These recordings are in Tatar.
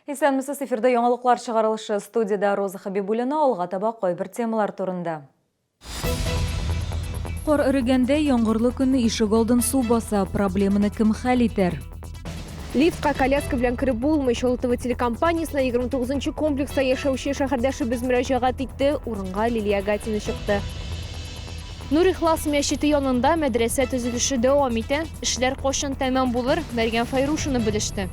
Исәнмесез, эфирда яңалыклар чыгарылышы студияда Роза Хабибуллина алга таба кайбер темалар турында. Кор эрегәндә яңгырлы көнне ишек алдын су баса, проблеманы кем хәл итәр? Лифтка коляска белән кереп булмый. Чолытова телекомпаниясенә 29 комплекста яшәүче шәһәрдәшебез мөрәҗәгать итте. Урынга Лилия Гатина чыкты. Нур Ихлас мәчете янында мәдрәсә төзелеше дәвам итә. Эшләр кошын тәмам булыр, Мәргән Файрушина белеште.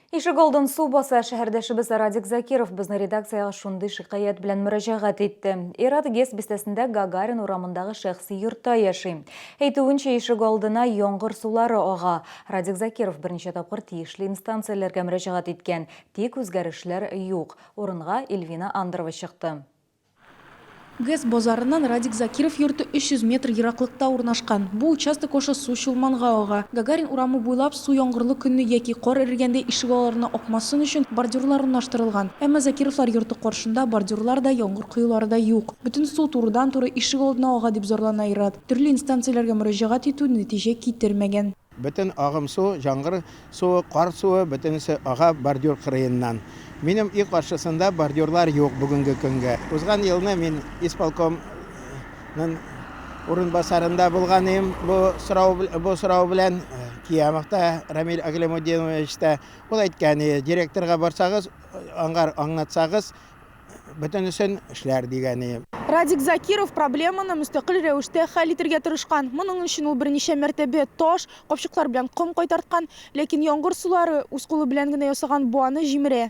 Ишек алдын су баса, шәһәрдәшебез Радик Закиров безнең редакциягә шундый шикаять белән мөрәҗәгать итте. Ират Гес бистәсендә Гагарин урамындагы шәхси йортта яши. Әйтүенчә, ишек алдына яңгыр сулары ага. Радик Закиров берничә тапкыр тиешле инстанцияләргә мөрәҗәгать иткән, тик үзгәрешләр юк. Урынга Ильвина Андрова чыкты. ГЭС базарыннан Радик Закиров йорты 300 метр ераклыкта урнашкан. Бу участок аша су Чулманга ага. Гагарин урамы буйлап су яңгырлы көнне яки кар эрегәндә ишегалларына акмасын өчен бордюрлар урнаштырылган. Әмма Закировлар йорты каршында бордюрлар да, яңгыр коелары да юк. Бөтен су турыдан-туры ишегалдына ага, дип зарлана ир-ат. Төрле инстанцияләргә мөрәҗәгать итү нәтиҗә китермәгән. Бөтен агым су, җаңгыр суы, кар суы, бөтенесе ага бордюр кырыеннан. Минем өй каршысында бордюрлар юк бүгенге көнгә. Узган елны мин исполком нын урынбасарында булган идем бу сорау, бу сорау белән. Киямов та, Рамил Аглямутдинович та. Ул әйткән иде, директорга барсагыз, аңар аңлатсагыз, бөтенесен эшләр дигәне. Радик Закиров проблеманы мөстәкыйль рәвештә хәл итергә тырышкан. Моның өчен ул берничә мәртәбә таш, капчыклар белән ком кайтарткан. Ләкин яңгыр сулары үз кулы белән генә ясаган буаны җимерә.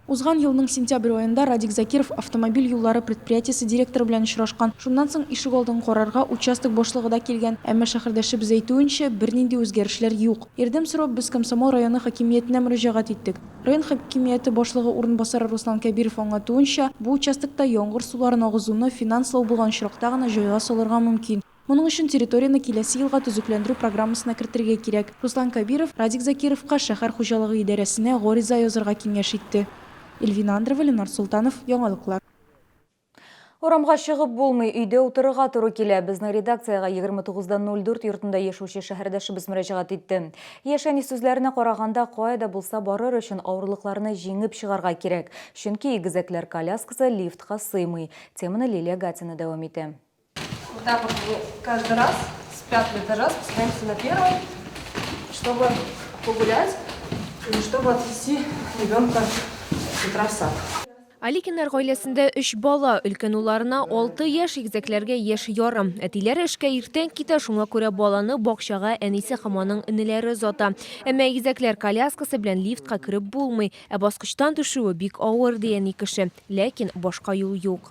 Узган елның сентябрь аенда Радик Закиров автомобиль юллары предприятиесе директоры белән очрашкан. Шуннан соң ишегалдын карарга участок башлыгы да килгән. Әмма шәһәрдәшебез әйтүенчә, бернинди үзгәрешләр юк. Ярдәм сорап без Комсомол районы хакимиятенә мөрәҗәгать иттек. Район хакимияте башлыгы урынбасары Руслан Кәбиров аңлатуынча, бу участокта яңгыр суларын агызуны финанс лау булган очракта гына җайга салырга мөмкин. Моның өчен территорияне киләсе елга төзекләндерү программасына кертергә кирәк. Руслан Кәбиров Радик Закировка шәһәр хуҗалыгы идарәсенә гариза язырга киңәш итте. Эльвина Андрова, Ленар Солтанов, Яңалыклар. Урамга чыгып булмый, өйдә утырырга туры килә. Безнең редакциягә 29.04 йортында яшәүче шәһәрдәшебез мөрәҗәгать итте. Яшәни сүзләренә караганда, кая да булса барыр өчен авырлыкларны җиңеп чыгарга кирәк, чөнки игезәкләр коляскасы лифтка сыймый. Теманы Лилия Гатина дәвам итә. Вот так вот мы каждый раз с пятого этажа спускаемся на первый, чтобы погулять или чтобы отвести ребенка с утра в сад. Аликиннар гаиләсендә өч бала, өлкән улларына алты яшь, игезәкләргә яшь ярым. Әтиләре эшкә иртән китә, шуңа күрә баланы бакчага әнисе һәм аның энеләре озата. Әмма игезәкләр коляскасы белән лифтка кереп булмый, ә баскычтан төшүе бик авыр, ди әни кеше. Ләкин башка юл юк.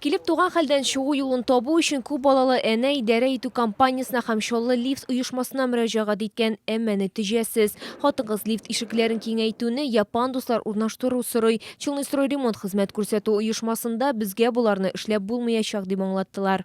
Килеп туган хәлдән чыгу юлын табу өчен күп балалы әнә идарә итү компаниясенә һәм Чаллы лифт оешмасына мөрәҗәгать иткән, әмма нәтиҗәсез. Хатын-кыз лифт ишекләрен киңәйтүне, япан дуслар урнаштыру сорый. Челнойстройремонт хезмәт күрсәтү оешмасында безгә боларны эшләп булмыячак, дип аңлаттылар.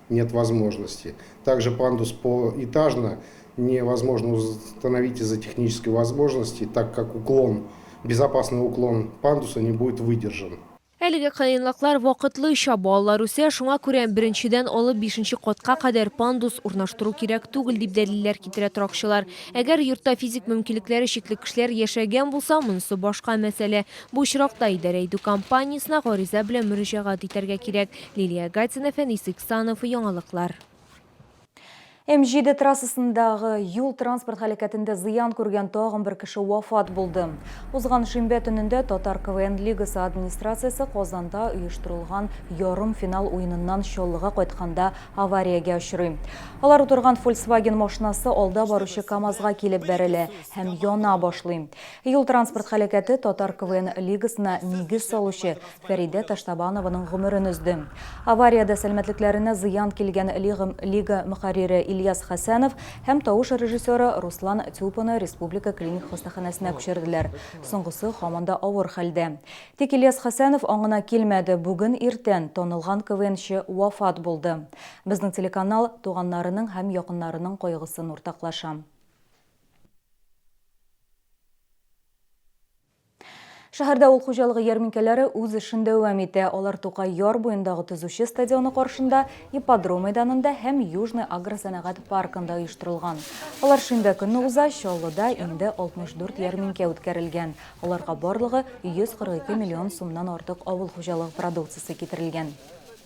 Нет возможности. Также пандус по этажно не возможно установить из-за технической возможности, так как уклон, безопасный уклон пандуса не будет выдержан. Әлеге кыенлыклар вакытлыча, балалар үсә, шуңа күрә беренчедән алып бишенче катка кадәр пандус урнаштыру кирәк түгел, дип дәлилләр китерә торакчылар. Әгәр йортта физик мөмкинлекләре чикле кешеләр яшәгән булса, монысы башка мәсьәлә. Бу очракта идарә итү компаниясенә гариза белән мөрәҗәгать итәргә кирәк. Лилия Гатина, Фәнис Иксанов, Яңалыклар. М7 трассасындагы юл-транспорт һәлакәтендә зыян күргән тагын бер кеше вафат булды. Узган шимбә төнендә Татар КВН лигасы администрациясе Казанда оештырылган ярымфинал уеныннан Чаллыга кайтканда авариягә очрый. Алар утырган Volkswagen машинасы алда баручы КАМАЗга килеп бәрелә һәм яна башлый. Юл-транспорт һәлакәте Татар КВН лигасына нигез салучы Фәридә Таштабанованың гомерен өзде. Авариядә сәламәтлекләренә зыян килгән Лига Лига мөхәррире Ильяс Хәсәнов һәм тавыш режиссеры Руслан Тюпаны республика клиник хастаханәсенә күчерделәр. Соңгысы һаман да авыр хәлдә. Тик Ильяс Хәсәнов аңына килмәде, бүген иртән танылган КВНчы вафат булды. Безнең телеканал туганнарының һәм якыннарының кайгысын уртаклаша. Шәһәрдә авыл хуҗалыгы ярминкәләре үз эшен дәвам итә. Алар Тукай яр буендагы төзүче стадионы каршында, ипподром мәйданында һәм Южный агросәнәгать паркында оештырылган. Алар шимбә көнне уза, Чаллыда инде 64 ярминкә үткәрелгән. Аларга барлыгы 142 миллион сумнан артык авыл хуҗалыгы продукциясе китерелгән.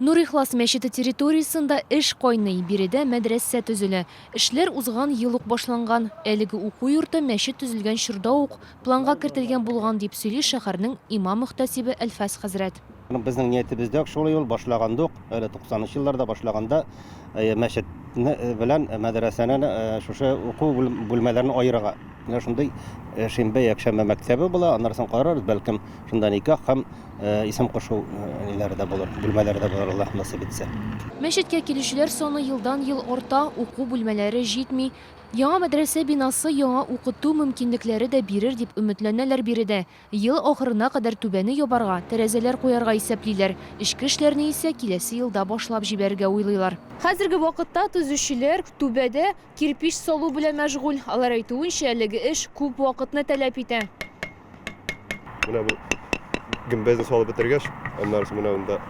Нур-Ихлас мәчете территориясендә эш кайный, биредә мәдрәсә төзелә. Эшләр узган ел ук башланган. Әлеге уку йорты мәчет төзелгән чорда ук планга кертелгән булган, дип сөйли шәһәрнең имам-мөхтәсибе Әлфәс хәзрәт. Безнең ниятебез дә шулай ул, башлаганда ук, әле туксанынчы елларда башлаганда, мәчет белән мәдрәсәне шушы уку бүлмәләрен аерырга. Менә шундый э, шимбә, якшәмбе мәктәбе була, аннан соң карарбыз, бәлкем шунда никах һәм э, исем кушу э, ниләре дә булыр, бүлмәләре дә булыр, Аллаһ насыйп итсә. Мәчеткә килүчеләр саны елдан-ел арта, уку бүлмәләре җитми. Яңа мәдрәсә бинасы яңа укыту мөмкинлекләре дә бирер дип өметләнәләр биредә. Ел ахырына кадәр түбәне ябарга, тәрәзәләр куярга исәплиләр. Эчке эшләрне исә киләсе елда башлап җибәрергә уйлыйлар. Хәзерге вакытта төзүчеләр түбәдә кирпеч салу белән мәшгуль. Алар әйтүенчә, әлеге эш күп вакытны таләп итә. Менә бу гөмбәзне салып бетергәч, аннары соң менә монда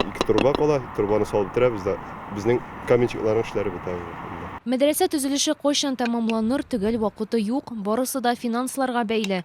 ике труба кала. Трубаны салып бетерәбез дә безнең каменщикларның эшләре бетә инде. Мәдрәсә төзелеше кайчан тәмамланыр, төгәл вакыты юк, барысы да финансларга бәйле.